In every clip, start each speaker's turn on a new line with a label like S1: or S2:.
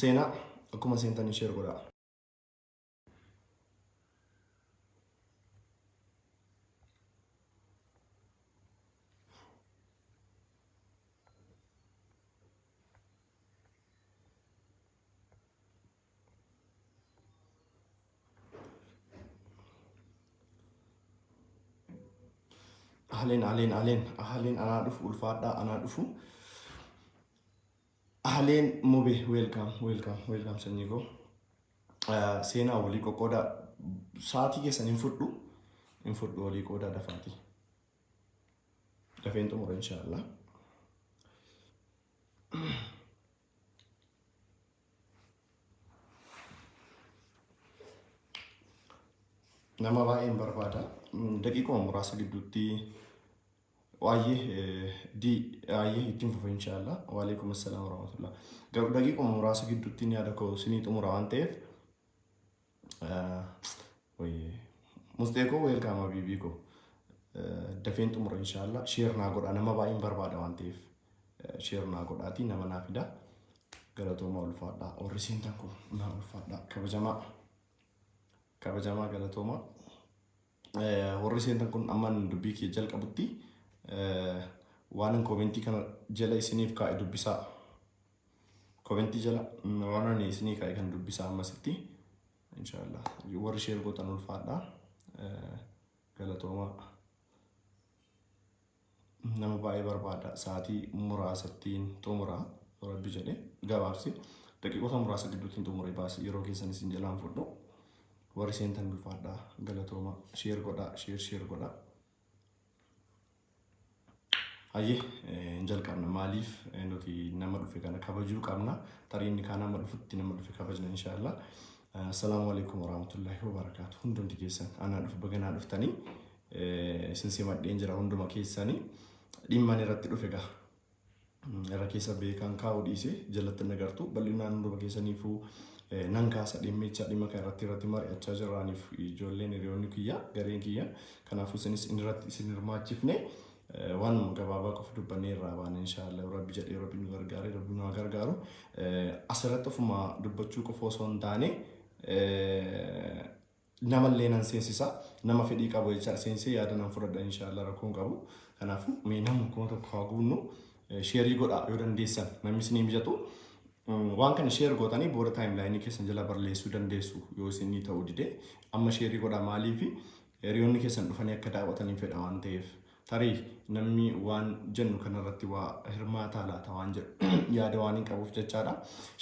S1: seenaa akkuma seentanii sheer godhaa. Ahleen ahleen ahleen ahleen anaa dhufu ulfaadhaa anaa dhufu. Ahleen mube welcome welcome welcome sanyii koo. Eh, Seenaa walii qoqqooda sa'aatii keessan hin fudhu hin fudhu walii qoodaa dafaati. Dafeen xumura inshaallah. nama baay'een barbaada. Daqiiquma muraasa gidduutti waa'ee di waa'ee ittiin fufa inshaallah. Waalaikum assalam warahmatullah. Garuu daqiiquma muraasa gidduutti yaada koo isinii xumura waan ta'eef Musxee koo weelkaam habiibii koo. Dafeen xumura inshaallah. Sheer naa godhaa nama baay'een barbaada waan ta'eef. Sheer naa godhaatii nama naa fidaa. Galatoomaa ulfaadhaa. Warri seentan kun naa ulfaadhaa. Kabajamaa. Kabajamaa galatoomaa. warri seentan kun amman dubbii kiyya jalqabutti waanan koomentii kana jala isiniif kaa'e dubbisaa. Koomentii jala waan ani isinii kaa'e kan dubbisaa ammasitti. Inshaallah warri sheer gootan ulfaadha. Galatoomaa. nama baay'ee barbaada sa'aatii muraasattiin xumura yoo rabbi jedhe gabaabsi daqiiqota muraasa gidduuttiin xumuree baasi yeroo keessan isin jalaan fudhu warri seentan ulfaadha galatooma sheer godha sheer sheer godha hayyee hin jalqabna maaliif eh, nuti nama dhufe kana kabajuu qabna tarii inni kaan amma dhufutti nama dhufe kabajna inshaallah assalaamu alaikum warahmatullaahi wabarakaatu hundumti keessan anaa dhufu baganaa dhuftanii Isin simadheen jira hunduma keessani. Dhimman irratti dhufe gaha. Irra keessa beekaan kaa'uu dhiise jalatti hin agartu. Bal'inaan hunduma keessaniifuu nan kaasa dhimmicha dhimma kana irratti irratti mari'achaa jirraaniif ijoolleen hiriyoonni kiyya gareen kiyya kanaafuu isinis inni irratti isin hirmaachifne waan gabaabaa qofa dubbannee irraa baana inshaallah rabbi jedhee rabbi nu gargaare rabbi nu gargaaru asirratti ofuma dubbachuu qofa osoo hin taane namallee nan seensisa nama fedhii qabu jechaan seensee yaada nan fudhadha inshaallah rakkoon qabu kanaafuu mee namni kuma tokko haa guunnu sheerii godhaa yoo dandeessan namni isinii mijatu waan kana sheer gootanii booda taayim laayinii keessan jala barreessuu dandeessu yoo isinii ta'uu dide amma sheerii godhaa maaliifi hiriyoonni keessan dhufanii akka daawwataniin fedha waan ta'eef Tarii namni waan jennu kanarratti waa hirmaataa laata waan jedhu yaada waan hin qabuuf jechaadha.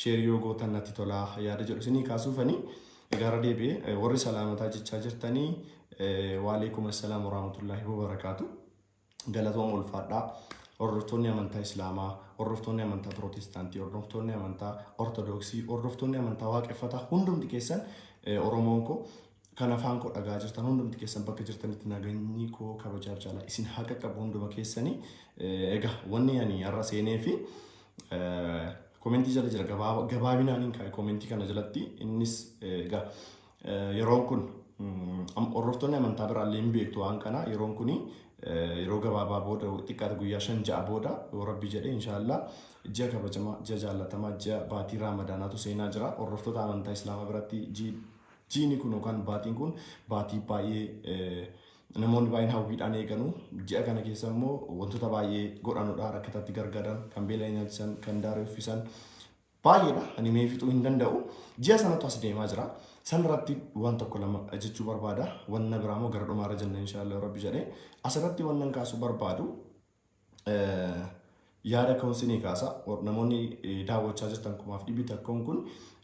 S1: Sheerii yoo gootan natti tolaa yaada jedhu isinii kaasuufanii egaara deebi'ee warri salaamataa jechaa jirtanii waaleekum assalaam warahmatullaahi wabarakaatu. Galatooma ulfaadhaa. Hordoftoonni amantaa Islaamaa, hordoftoonni amantaa Pirootestaantii, hordoftoonni amantaa Ortodoksii, hordoftoonni amantaa Waaqeffataa hundumti keessan Oromoon koo Kan afaan koo dhagaa jirtan hundumti keessan bakka jirtanitti naganyii koo kabajaaf jaalaa isin haa qaqqabu hunduma keessanii egaa wanni ani har'a seenee fi komentii jala jira gabaabinaan hin kaa'e komentii kana jalatti innis egaa yeroon kun hordoftoonni amantaa biraallee hin beektu waan kana yeroon kun yeroo gabaabaa booda xiqqaata guyyaa shan ja'a booda yoo rabbi jedhe inshaallah ji'a kabajamaa ji'a jaallatamaa ji'a baatii raamadaanaatu seenaa jira hordoftoota amantaa islaamaa biratti ji'i Jiini kun yookaan baatiin kun baatii baay'ee namoonni baay'een hawwiidhaan eeganu. Ji'a kana keessa immoo wantoota baay'ee godhanudha. Rakkatatti gargaaran, kan beela nyaachisan, kan daaree uffisan baay'eedha. Ani mee fixuu hin danda'u. Ji'a sanatu as deemaa jira. San irratti waan tokko lama jechuu barbaada. Wanna biraa immoo gara dhumaarra jenna inshaallah rabbi jedhee. Asirratti wannan kaasuu barbaadu yaada koon sinii kaasa namoonni daawwachaa jirtan kumaaf dhibbi takkoon kun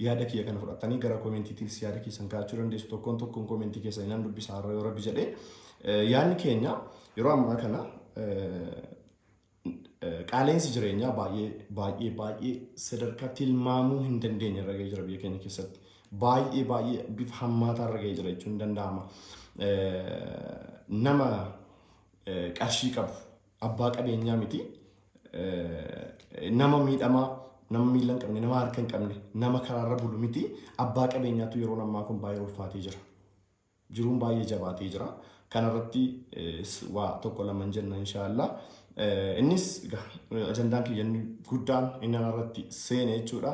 S1: yaada kiyya kana fudhattanii gara koomentiitiinis yaada keessan kaa'achuu dandeessu tokkoon tokkoon koomentii keessan nan dubbisaa irra yoo rabbi jedhee yaadni keenya yeroo ammaa kana qaaleensi jireenyaa baay'ee baay'ee baay'ee sadarkaa tilmaamuu hin dandeenye irra ga'ee jira biyya keenya keessatti baay'ee baay'ee bifa hammaataa irra ga'ee jira jechuun danda'ama nama qarshii qabu abbaa qabeenyaa miti nama miidhamaa nama miila hin qabne nama harka hin qabne nama karaarra bulu miti abbaa qabeenyaatu yeroo ammaa kun baay'ee ulfaatee jira jiruun baay'ee jabaatee jira kanarratti waa tokko laman jenna inshaallah innis ajandaan kiyyanni guddaan inni irratti seene jechuudha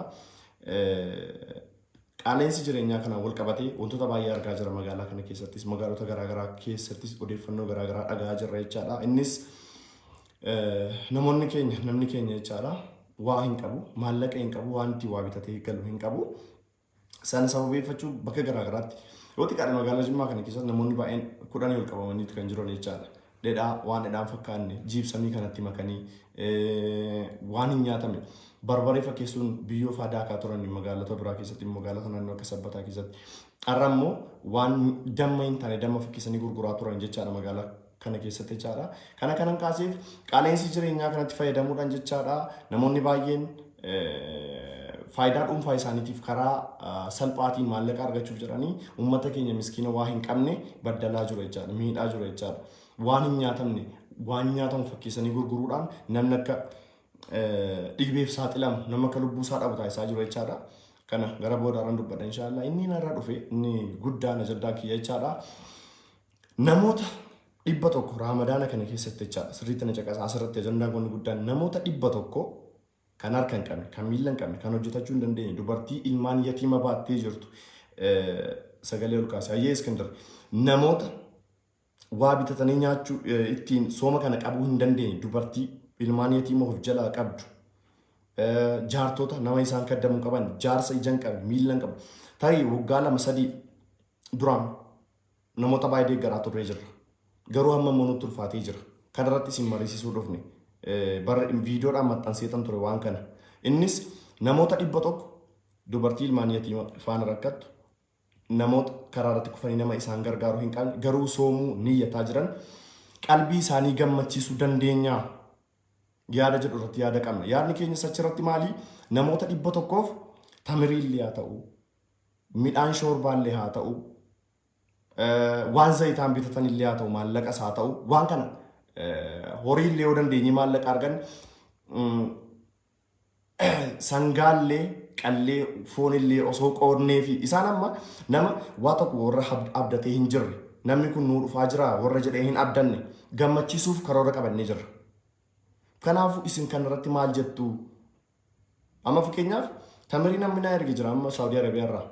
S1: Qaala'insi jireenyaa kanaan walqabatee wantoota baay'ee argaa jirra magaalaa kana keessattis magaalota garaagaraa keessattis odeeffannoo garaagaraa dhaga'aa jirra jechaadha. Innis namoonni keenya namni keenya jechaadha waa hin qabu maallaqa hin qabu waan itti waa bitatee galu hin qabu. Sana sababeeffachuu bakka garaagaraatti yoo xiqqaadhe magaalaa Jimmaa kana keessatti namoonni baay'een kudhanii ol qabamaniitu kan jiran jechaadha. dhedhaa waan dhedhaa hin fakkaanne jiibsamii kanatti makanii waan hin nyaatame barbaree fakkeessuun biyyoo faa daakaa turan magaalota biraa keessatti magaalota naannoo akka sabbataa keessatti. Har'a immoo waan damma hin taane damma fakkeessanii gurguraa turan jechaadha magaalaa kana keessatti jechaadha. Kana kanan kaaseef qaala'insi jireenyaa kanatti fayyadamuudhaan jechaadha namoonni baay'een faayidaa dhuunfaa isaaniitiif karaa salphaatiin maallaqa argachuuf jedhanii uummata keenya miskiina waa hin qabne baddalaa jiru jechaadha. Miidhaa jiru jechaadha. Waan hin nyaatamne waan nyaatamu fakkeessanii gurguruudhaan namni akka dhiibeef saaxilamu nama akka lubbuu isaa dhabu taasisaa jiru jechaadha. Kana gara boodaarran dubbadha inshaallah. Inni narra dhufe inni guddaan ajandaan kiyya jechaadha. Namoota dhibba tokko raamadaana kana keessatti jechaadha sirriitti na caqasa asirratti ajandaan kun guddaan namoota dhibba tokko kan harka hin qabne kan miila hin qabne kan hojjetachuu hin dandeenye dubartii ilmaan yatiima baattee jirtu sagalee ol kaase hayyee iskindar namoota waa bitatanii nyaachuu ittiin sooma kana qabuu hin dandeenye dubartii ilmaan yatiima of jalaa qabdu jaartota nama isaan kaddamu qaban jaarsa ija hin qabne miila hin qabne tarii waggaa lama sadii duraan Namoota baay'ee deeggaraa turree jirra. Garuu amma immoo nutti ulfaatee jira. Kana irratti isin mariisisuu dhufne. Bara viidiyoodhaan maxxanseetan ture waan kana. Innis namoota dhibba tokko dubartii ilmaan yatiima faana rakkattu namoota karaa irratti kufanii nama isaan gargaaru hin qabne garuu soomuu niyyataa jiran qalbii isaanii gammachiisuu dandeenyaa yaada jedhu irratti yaada qabna. Yaadni keenyas achirratti maali? Namoota dhibba tokkoof tamiriillee haa ta'u, midhaan shoorbaallee haa ta'u, waan zayitaan bitatan illee haa ta'u, maallaqas haa ta'u, waan kana horii illee yoo dandeenye maallaqa argan sangaallee qallee foon illee osoo qoodnee fi isaan amma nama waa tokko warra abdatee hin jirre namni kun nuu dhufaa jira warra jedhee hin abdanne gammachiisuuf karoora qabannee jirra. Kanaafuu isin kanarratti maal jettu? Amma fakkeenyaaf tamirii namni naa erge jira amma Saawudii Arabiyaa irraa.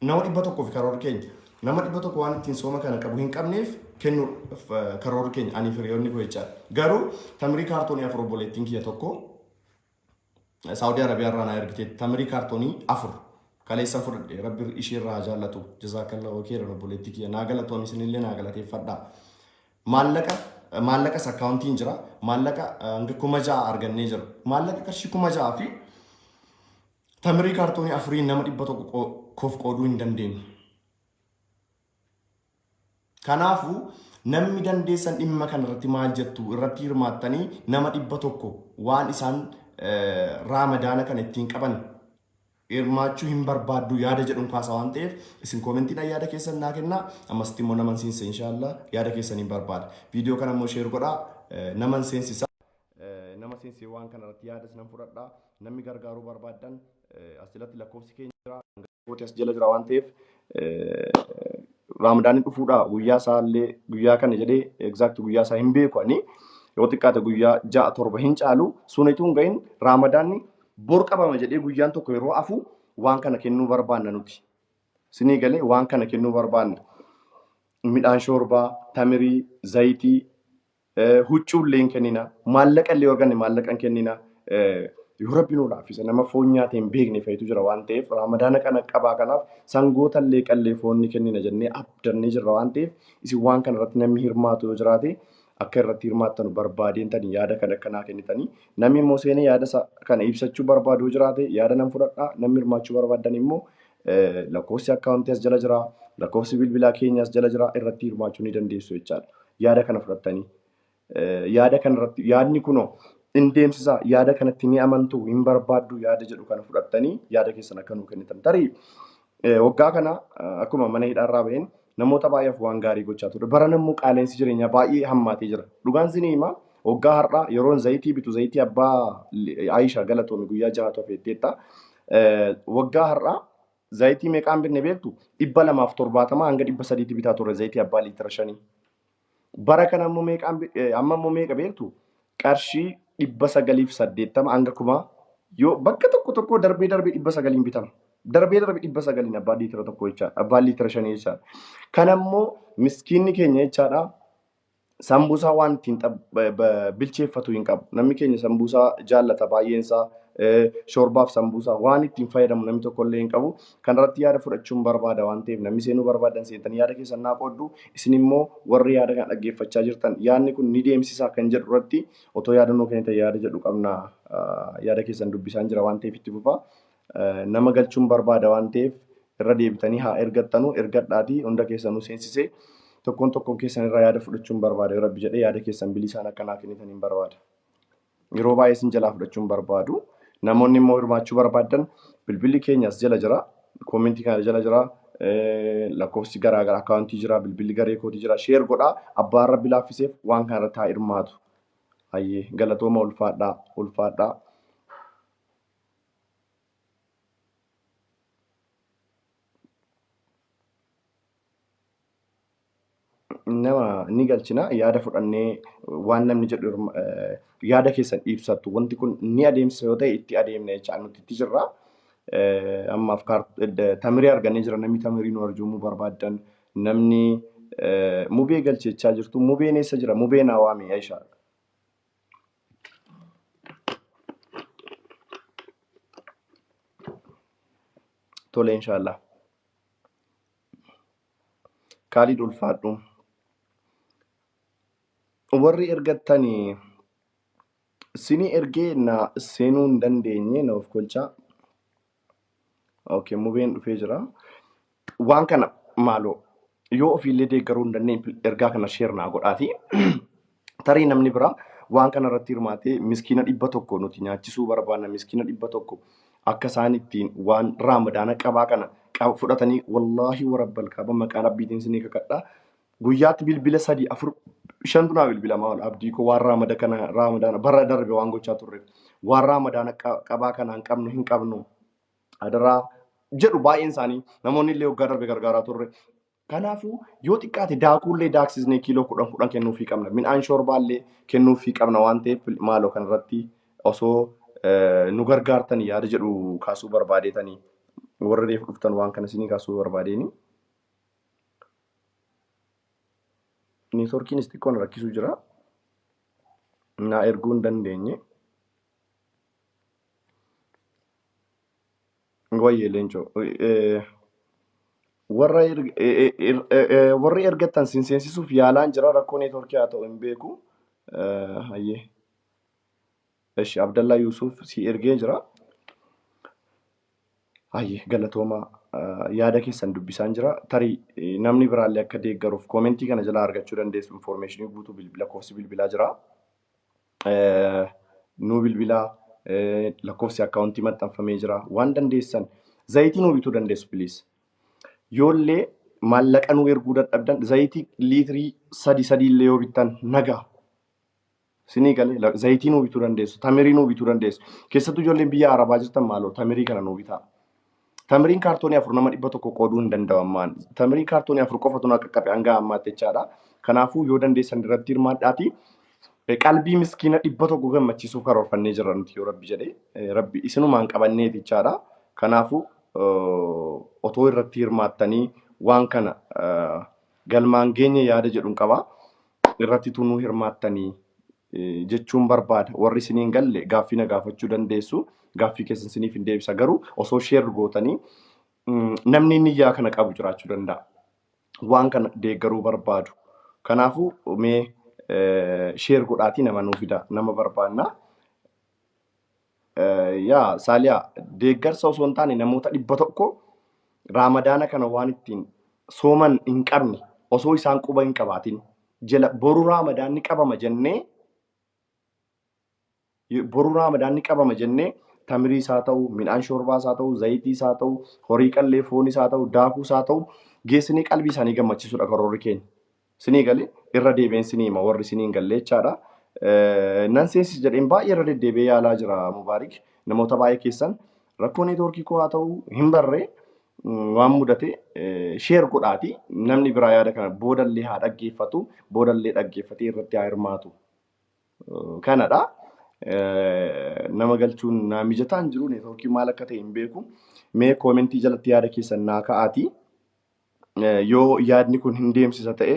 S1: Nama dhibba tokkoo fi karoora keenya. Nama dhibba tokko waan ittiin sooma kana qabu hin qabneef kennu karoora keenya ani firiyoonni koo jechaa. Garuu tamirii kaartoonii afur obboleettiin kiyya tokko Saawudii Arabiyaa irraa naa ergite tamirii kaartoonii afur. Kaleessan fudhadhe rabbi ishee irraa jaallatu jazaakalla okeera obboleettii kiyya naa galatoomi isinillee naa galateeffadhaa. Maallaqa maallaqas akkaawuntiin jira. Maallaqa hanga kuma ja'a argannee jira. Maallaqa qarshii kuma ja'a fi tamirii kaartoonii afurii nama dhibba tokko koof qooduu hin dandeenye. Kanaafuu namni dandeessan dhimma kana irratti maal jettu irratti hirmaattanii nama dhibba tokko waan isaan raamadaana kana ittiin qaban hirmaachuu hin barbaaddu yaada jedhun kaasa waan ta'eef isin koomentiidhaan yaada keessan naa kennaa ammasitti immoo naman seensa inshaallah yaada keessan hin barbaada viidiyoo kana immoo sheer godhaa eh, naman seensisa Eh, nama seensee waan kana irratti yaada isinan fudhadha namni gargaaruu barbaaddan eh, as jalatti lakkoofsi keenya jira kooti as jala jira waan ta'eef eh, raamadaanii dhufuudha guyyaa isaa illee guyyaa kana jedhee egzaakti guyyaa isaa hin beeku ani yoo xiqqaate guyyaa ja'a torba hin caalu sunituu hin gahin raamadaanni Bor qabama jedhee guyyaan tokko yeroo hafu waan kana kennuu barbaanna nuti. Sinii galee waan kana kennuu barbaanna. Midhaan shoorbaa, tamirii, zayitii, eh, huccuu illee hin kennina. Maallaqa illee arganne maallaqa hin kennina. Eh, Yoo rabbi nu laaffise nama foon nyaate hin beekne fa'itu jira waan ta'eef raamadaana kana qabaa kanaaf sangoota illee qallee foon ni kennina jennee abdannee jirra waan ta'eef isin waan kana irratti namni hirmaatu yoo jiraate akka irratti hirmaattanu barbaadeen tani yaada kana akka naa kennitanii namni immoo seenee yaada isa kana ibsachuu barbaadu yoo jiraate yaada nan fudhadha namni hirmaachuu barbaaddan immoo lakkoofsi akkaawuntii as jala jira lakkoofsi bilbilaa keenya as jala jira irratti hirmaachuu ni dandeessu jechaadha yaada kana fudhattanii yaada kana irratti yaadni kunoo in deemsisaa yaada kanatti ni amantu hin barbaaddu yaada jedhu kana fudhattanii yaada keessan akka nuu kennitan tarii Eh, Waggaa kana eh, akkuma mana hidhaarraa ba'een namoota baay'eef waan gaarii gochaa ture. Barana immoo qaala'insi jireenyaa baay'ee hammaatee jira. Dhugaan isin himaa waggaa har'aa yeroon zayitii bitu zayitii abbaa li- Ayisha galatoomi guyyaa jahatu hafeetteetta. Eh, Waggaa har'aa zayitii meeqaan bitne beektu? Dhibba lamaaf torbaatamaa hanga dhibba sadiitti bitaa turre zayitii abbaa liitira shanii. Bara kana ammoo meeqaan bi- eh, amma ammoo meeqa beektu? Qarshii dhibba sagalii fi saddeettama hanga kumaa yoo bakka tokko tokkoo darbee darbee dhibba sagaliin bitama. Darbee darbee dhibba sagaliin abbaan liitira tokko jechaadha. Abbaan liitira shanii jechaadha. Kan ammoo miskiinni keenya jechaadha. Sambuusaa waan ittiin xab- ba- ba- bilcheeffatu hin qabu. Namni keenya sambuusaa jaallata baay'een isaa. eh, Shoorbaaf sambuusaa waan ittiin fayyadamu namni tokkollee hin qabu. Kanarratti yaada fudhachuun barbaada waan ta'eef namni seenuu barbaaddan seentanii yaada keessan naa qooddu. Isin immoo warri yaada kana dhaggeeffachaa jirtan yaadni kun ni deemsisaa kan jedhu irratti otoo yaada nuu kennitan yaada jedhu qabna. Yaada keessan dubbisaan jira waan ta'eef itti fufaa. Nama galchuun barbaada waan ta'eef irra deebitanii haa ergattanu ergadhaatii hunda keessanuu seensisee tokkoon tokkoon keessan irraa yaada fudhachuun barbaada yoo rabbi jedhee yaada keessan bilisaan akka naa kennitan hin barbaada. Yeroo baay'ee isin jalaa fudhachuu hin barbaadu. Namoonni immoo hirmaachuu barbaaddan bilbilli keenya as jala jira. Koomentii kana jala jira. Lakkoofsi garaa garaa akkaawuntii jira. Bilbilli garee kootii jira. Sheer godhaa. Abbaa rabbi laaffiseef waan kana irratti haa hirmaatu. Hayyee galatooma ulfaadhaa ulfaadhaa. nama ni galchina yaada fudhannee waan namni jedhu hirma- eh, yaada keessan ibsattu wanti kun ni adeemsa yoo ta'e itti adeemna jechaa nuti itti jirra. Eh, Ammaaf kaar- eh, tamirii argannee jira namni tamirii nu arjoomuu barbaaddan namni eh, mubee galche jechaa jirtu mubeen eessa jira mubeen hawaami Aisha. Tole inshaallah. Kaalid ulfaadhu. Warri ergattani sini ergee na seenuu hin dandeenye na of kolchaa. Okay, mubeen dhufee jira. Waan kana maaloo yoo ofiillee deeggaruu hin dandeenye ergaa kana sheer naa godhaati. Tarii namni biraa waan kana irratti hirmaatee miskiina dhibba tokko nuti nyaachisuu barbaanna miskiina dhibba tokko akka isaan ittiin waan raamadaana qabaa kana qaba fudhatanii wallaahi warabbal kaaba maqaa rabbiitiin sinii kakadhaa guyyaatti bilbila sadii afur shantu naa bilbilamaa ol abdii koo waan raamada kana raamadaana bara darbe waan gochaa turre waan raamadaana qa- qabaa kanaan qabnu hin qabnu adaraa jedhu baay'een isaanii namoonni illee waggaa darbe gargaaraa turre Kanaafuu yoo xiqqaate daakuullee daaksisnee kiiloo kudhan kudhan kennuufii qabna. Midhaan shoorbaallee kennuufii qabna waan ta'eef maaloo kanarratti osoo eh, nu gargaartan yaada jedhu kaasuu barbaadeetanii warra reef dhuftan waan kana isinii kaasuu barbaadeeni. Neetworkiinis xiqqoo na rakkisuu jira. Naa erguu hin dandeenye. Wayyee leencoo. Eh, Warra erg- eh, eh, er- eh, eh, warri ergattan sin seensisuuf yaalaan jira rakkoo neetworkii haa ta'u hin beeku. Eh, Hayyee. Eshi Abdallaa Yuusuuf si ergee jira. Hayyee galatoomaa eh, yaada keessan dubbisaan jira. Tarii eh, namni biraallee akka deeggaruuf koomentii kana jalaa argachuu dandeessu infoormeeshinii guutuu bilbila koofsi bilbilaa jira. nuu bilbilaa lakkoofsi akkaawuntii maxxanfamee jira waan dandeessan zayitii nuu bituu dandeessu piliis yoollee maallaqa nuu erguu dadhabdan zayitii liitirii sadi sadii illee yoo bittan nagaa sinii galee zayitii nuu bituu dandeessu tamirii nuu bituu dandeessu keessattuu ijoolleen biyya arabaa jirtan maaloo tamirii kana nuu bitaa Tamiriin kaartoonii afur nama dhibba tokko qooduu hin danda'u ammaan. Tamiriin kaartoonii afur qofa tun qaqqabe hanga ammaatti jechaadha. Kanaafuu yoo dandeessan irratti hirmaadhaati. Qalbii miskiina dhibba tokko gammachiisuuf karoorfannee jirra nuti yoo rabbi jedhe. Rabbi isinumaan qabanneef jechaadha. Kanaafuu otoo irratti hirmaattanii waan kana galmaan geenye yaada jedhuun qaba. irratti utuu nuu hirmaattanii jechuun barbaada. Warri isin hin galle gaaffii na gaafachuu dandeessu. Gaaffii keessan isiniif hin deebisa. Garuu osoo sheer gootanii namni inni iyyaa kana qabu jiraachuu danda'a. Waan kana deeggaruu barbaadu. Kanaafuu mee sheer godhaatii nama nuu fida. Nama barbaanna. Yaa Saaliyaa, deeggarsa osoo hin taane namoota dhibba tokko Raamadaana kana waan ittiin sooman hin qabne osoo isaan quba hin qabaatin jala boru Raamadaan ni qabama jennee boru Raamadaan ni qabama jennee tamirii isaa ta'u, midhaan shoorbaa isaa ta'u, zayitii isaa ta'u, horii qallee foon isaa ta'u, daakuu isaa ta'u geessinee qalbii isaanii gammachiisuudha karoorri keenya. Sinii gale irra deebi'een sinii hima warri sinii hin galle jechaadha. Nan seensis jedheen baay'ee irra deddeebi'ee yaalaa jira Mubaarik. Namoota baay'ee keessan rakkoo neetwoorkii koo haa ta'u hin barree waan mudate sheer godhaati namni biraa yaada kana boodallee haa dhaggeeffatu boodallee dhaggeeffatee irratti haa hirmaatu. Kanadha. Nama galchuun naa mijataa hin jiru neetwoorkii maal akka ta'e hin beeku. Mee koomentii jalatti yaada keessan naa ka'aati. yoo yaadni kun hin deemsisa ta'e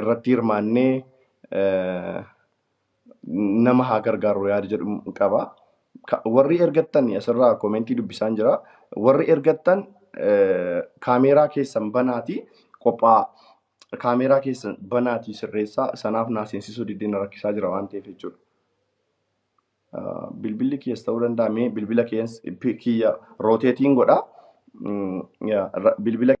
S1: irratti hirmaannee nama haa gargaarru yaada jedhu qaba. Warri ergattan asirraa koomentii dubbisaan jira. Warri ergattan kaameeraa keessan banaati qophaa kaameeraa keessan banaati sirreessaa sanaaf naa seensisuu diddeen rakkisaa jira waan ta'eef jechuudha. bilbilli kiyas ta'uu danda'a mee bilbila kiyas kiyya rooteetiin godha bilbila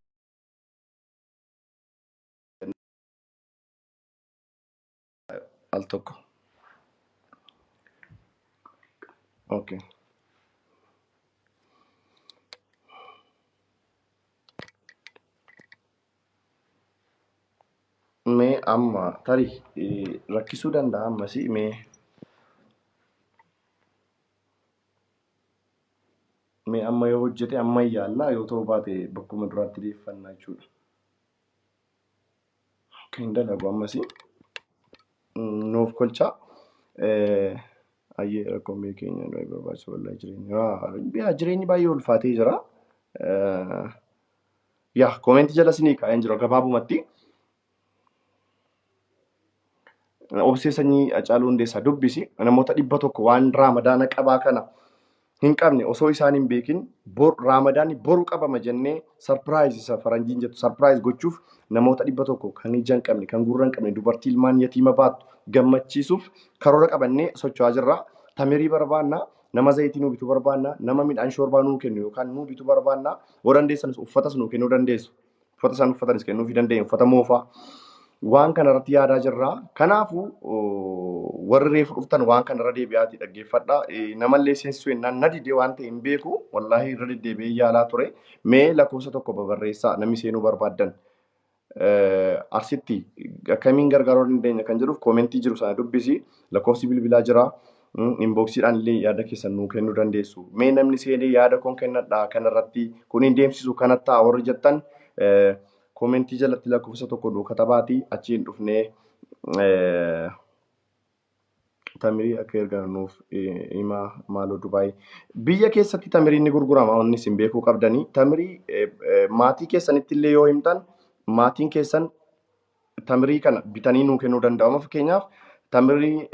S1: al tokko okay Mee amma tarii rakkisuu danda'a ammasii mee mee amma yoo hojjete amma yaallaa yoo ta'uu baate bakkuma duraatti deeffannaa jechuudha. Akka hin dalagu ammasii nuuf kolchaa ayyee rakkoon biyya keenya baay'ee barbaachisa wallahi jireenya jireenyi baay'ee ulfaatee jira. Yaa koomeentii jala isinii kaa'een jira gabaabumatti. Obsee sanyii Hacaaluu Hundeessaa dubbisi namoota dhibba tokko waan raamadaana qabaa kana hin qabne osoo isaan hin beekin raamadaanni boru qabama jennee sarpiraayiz isa faranjiin jettu sarpiraayiz gochuuf namoota dhibba tokko kan ija hin qabne kan gurra hin qabne dubartii ilmaan yatiima baattu gammachiisuuf karoora qabannee socho'aa jirra. Tamirii barbaanna nama zayitii nuu bituu barbaanna, nama midhaan shoorbaa nuu kennu yookaan nuu bituu barbaanna, yoo dandeessanis uffatas nuu kennuu dandeessu. Uffata isaan uffatanis kennuufii dandeenya, uffata moofaa. Waan kana irratti yaadaa jirra. Kanaafuu oh, warri reefu dhuftan waan kana irra deebi'aatii dhaggeeffadha. Eh, Namallee seensisuu jennaan na didee waan ta'e hin beeku. Wallaahi irra deddeebi'ee yaalaa ture. Mee lakkoofsa tokko babarreessaa namni seenuu barbaaddan. Arsitti akkamiin gargaaruu dandeenya kan jedhuuf koomentii jiru sana dubbisi lakkoofsi bilbilaa jira. Inboksiidhaan illee yaada keessan nuu kennuu dandeessu. Mee namni seenee yaada koon kennadhaa kanarratti kun hin deemsisu kana ta'a warri jettan koomentii jalatti lakkoofsa tokko nuu katabaatii achiin dhufnee Tamirii akka ergan nuuf himaa maaloo Dubaay. Biyya keessatti tamiriin ni gurgurama wanni isin beekuu qabdanii. Tamirii maatii keessanitti illee yoo himtan maatiin keessan tamirii kana bitanii nuu kennuu danda'u. Amma fakkeenyaaf tamirii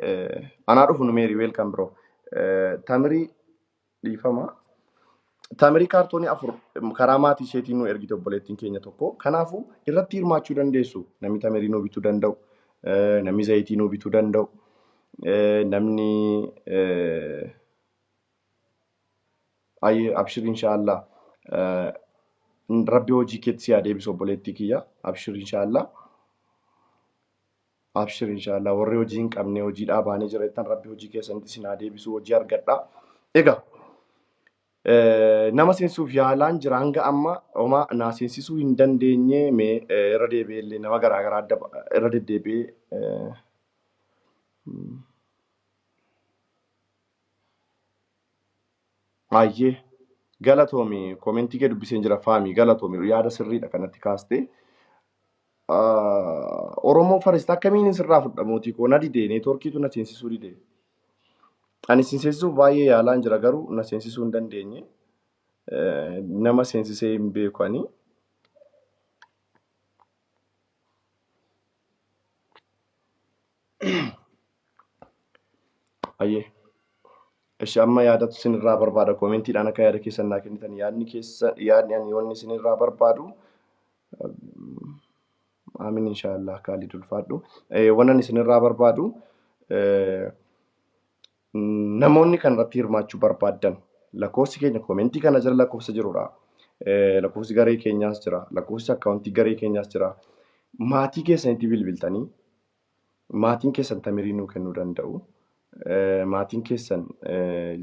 S1: anaa dhufu numeerii weelkan biroo. Tamirii dhiifama. Taamirii kaartoonii afur karaa maatii isheetiin nu ergite obboleettiin keenya tokko. Kanaafuu irratti hirmaachuu dandeessu. Namni taamirii nu bituu danda'u, eh, namni zayitii nu bituu danda'u, eh, namni eh, ayyee abshir inshaallah eh, rabbi hojii keetti si haa deebisu obboleettii kiyya abshir inshaallah. Abshir inshaallah warri hojii hin qabne hojii dhaabaanee jira jettan rabbi hojii keessanitti isin haa deebisu hojii argadha. Egaa nama seensuuf yaalaan jira hanga amma homaa naa seensisuu hin dandeenye mee irra deebi'ee illee nama garaa garaa adda irra deddeebi'ee Hayyee galatoomi komentii kee dubbiseen jira faami galatoomi yaada sirriidha kanatti kaaste. Oromoo farist akkamiin sirraa fudha mootii koo na didee neetworkiitu na seensisuu didee. Ani isin seensisuuf baay'ee yaalaan jira garuu na seensisuu hin dandeenye. Nama seensisee hin beeku ani. Ayyee. Ishi amma yaadatu isinirraa barbaada koomentiidhaan akka yaada keessan naa kennitan yaadni keessa yaadni ani wanni isinirraa barbaadu amin inshaallah kaalid ulfaadhu wanan isinirraa barbaadu namoonni kan irratti hirmaachuu barbaaddan lakkoofsi keenya koomentii kana jala lakkoofsa jirudha lakkoofsi garee keenyaas jira lakkoofsi akkaawuntii garee keenyaas jira maatii keessanitti bilbiltanii Maatiin keessan tamirii nuu kennuu danda'u. Maatiin keessan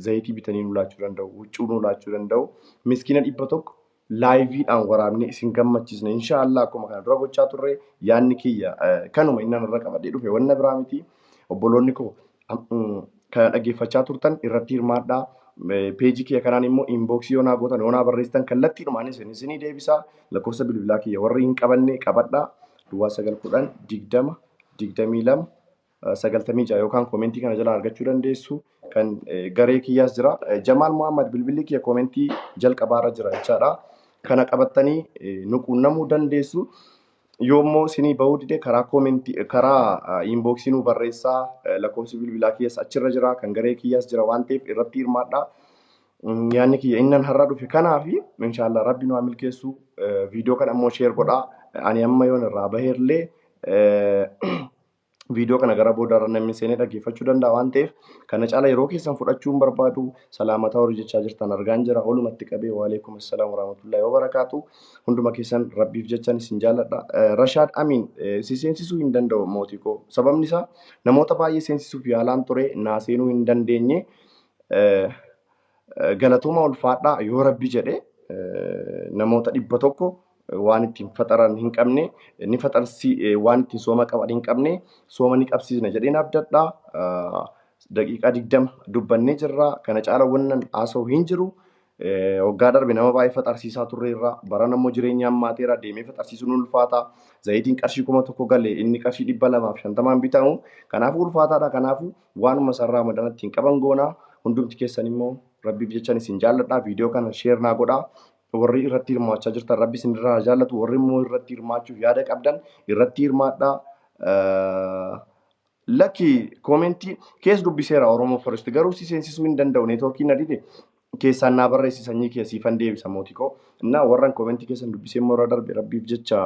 S1: zayitii bitanii nuu laachuu danda'u. Huccuu nuu laachuu danda'u. Miskiina dhibba tokko laayiviidhaan waraabnee isin gammachiisna. Inshaallah akkuma kana dura gochaa turre yaadni kiyya kanuma inni anarra qabadhee dhufe wanna biraa miti. Obboloonni koo Kana dhaggeeffachaa turtan irratti hirmaadhaa. Peejii kiyya kanaan immoo inbox yoo naa gootan yoo naa barreessitan kallattiidhumaanis hin isinii deebisaa. Lakkoofsa bilbilaa kiyya warri hin qabanne qabadhaa. Duwwaa sagal kudhan digdama digdamii lama sagaltamii ja'a yookaan koomentii kana jalaa argachuu dandeessu. Kan garee kiyyaas jira. Jamaal Muhammad bilbilli kiyya koomentii jalqabaarra jira jechaadha. Kana qabattanii nu quunnamuu dandeessu. Yoo immoo sinii bahuu dide karaa koomentii karaa inbox nuu barreessaa Eh, lakkoofsi bilbilaa kiyyas achirra jira kan garee kiyyaas jira waan ta'eef irratti hirmaadhaa. Mm, Yaanni kiyya innan har'a dhufe kanaafi inshaallah rabbi nu haa milkeessu Eh, viidiyoo kana immoo sheer godhaa ani amma yoon irraa baheerlee eh, viidiyoo kana gara booda irra namni seenee dhaggeeffachuu danda'a waan ta'eef kana caala yeroo keessan fudhachuu hin barbaadu salaamataa warri jechaa jirtan argaan jira olumatti qabee waaleekum assalaam warahmatullahi wabarakaatu hunduma keessan rabbiif jechan isin jaalladha rashaad amiin si seensisuu hin danda'u mootii koo sababni isaa namoota baay'ee seensisuuf yaalaan ture naa seenuu hin dandeenye Galatooma ulfaadhaa yoo rabbi jedhe namoota dhibba tokko waan ittiin faxaran hin qabne ni faxarsi waan ittiin sooma qaban hin qabne sooma ni qabsiisna jedheen abdadha. Daqiiqaa digdama dubbannee jirra kana caala wannan haasa'u hin jiru. Waggaa darbe nama baay'ee faxarsiisaa turreerra baran ammoo jireenya hammaateera deemee faxarsiisuun ulfaata. Zayitiin qarshii kuma tokko gale inni qarshii dhibba lamaaf shantamaan bitamu kanaafuu ulfaataadha kanaafuu Waanuma isaan Raamadan ittiin qaban goona. Hundumti keessan immoo Rabbiif jechan isin jaalladha. Viidiyoo kana sheer naa godha. Warri irratti hirmaachaa jirtan Rabbi isin irraa haa jaallatu. Warri immoo irratti hirmaachuuf yaada qabdan irratti hirmaadha. Lakki koomentii kees dubbiseera Oromoo Forest garuu si seensisuu hin danda'u neetwoorkiin na dide. keessaan naa barreessi sanyii kiyya siifan deebisa mootikoo innaa warran komentii keessan dubbisee immoo irra darbe rabbiif jecha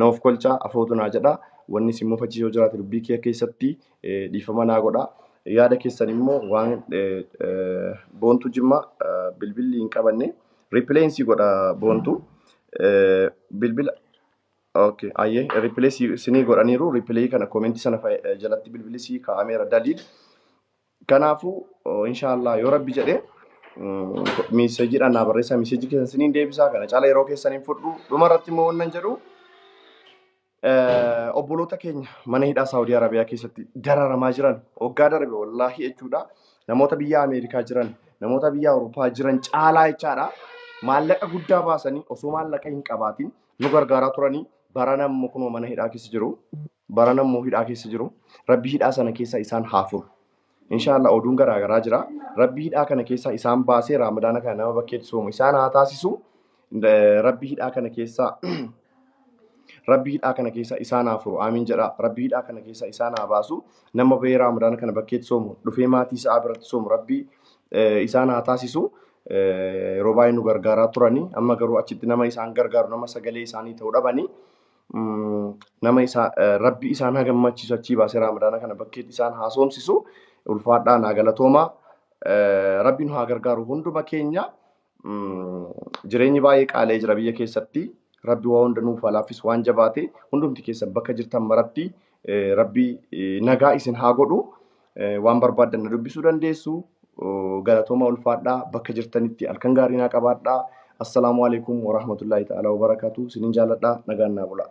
S1: na of kolchaa afootu naa jedha wanni si mufachiisu yoo jiraate dubbii kiyya keessatti dhiifama naa godha yaada keessan immoo waan boontuu jimmaa bilbilli hin qabanne ripileensii godha boontuu bilbila Okay, ayyee ripilee sinii godhaniiru ripilee kana komentii sana jalatti bilbili sii kaa'ameera daliil Kanaafuu inshaallah yoo rabbi jedhe miiseejiidhaan naa barreessaa miiseejii keessan isiniin deebisaa kana caala yeroo keessan hin fudhu. Dhuma irratti immoo wannan jedhu eh, obboloota keenya mana hidhaa Saawudii Arabiyaa keessatti dararamaa jiran waggaa darbe wallaahi jechuudha. Namoota biyya Ameerikaa jiran, namoota biyya Awurooppaa jiran caalaa jechaadha. Maallaqa guddaa baasanii osoo maallaqa hin qabaatiin nu gargaaraa turanii barana immoo kunoo mana hidhaa keessa jiru. Barana immoo hidhaa keessa jiru. Rabbi hidhaa sana keessa isaan haa furu. Inshaallah oduun garaa garaa jira. Rabbi hidhaa kana keessa isaan baasee Raamadaana kana nama bakkeetti soomu isaan haa taasisu. Eh, Rabbi hidhaa kana keessa Rabbi hidhaa kana keessa isaan haa furu. Aamiin jedha. Rabbi hidhaa kana keessa isaan haa baasu. Nama bahee Raamadaana kana bakkeetti soomu dhufee maatii isaa biratti soomu Rabbi eh, isaan haa taasisu. Eh, Yeroo baay'ee nu gargaaraa turani. Amma garuu achitti nama isaan gargaaru nama sagalee isaanii ta'u dhabani. nama isaa rabbi isaan haa gammachiisu achii baasee raamadaana kana bakkeetti isaan haa soomsisu ulfaadhaa naa galatoomaa rabbi nu haa gargaaru hunduma keenya jireenyi baay'ee qaalee jira biyya keessatti rabbi waa hunda nuuf haa laaffisu waan jabaate hundumti keessa bakka jirtan maratti Rabbi nagaa isin haa godhu. Waan barbaaddan na dubbisuu dandeessu. Galatooma ulfaadhaa bakka jirtanitti halkan gaarii naa qabaadhaa. Assalaamu alaikum warahmatullaahi ta'aalaa wabarakaatu. Sinin jaaladhaa nagaan naa bulaa.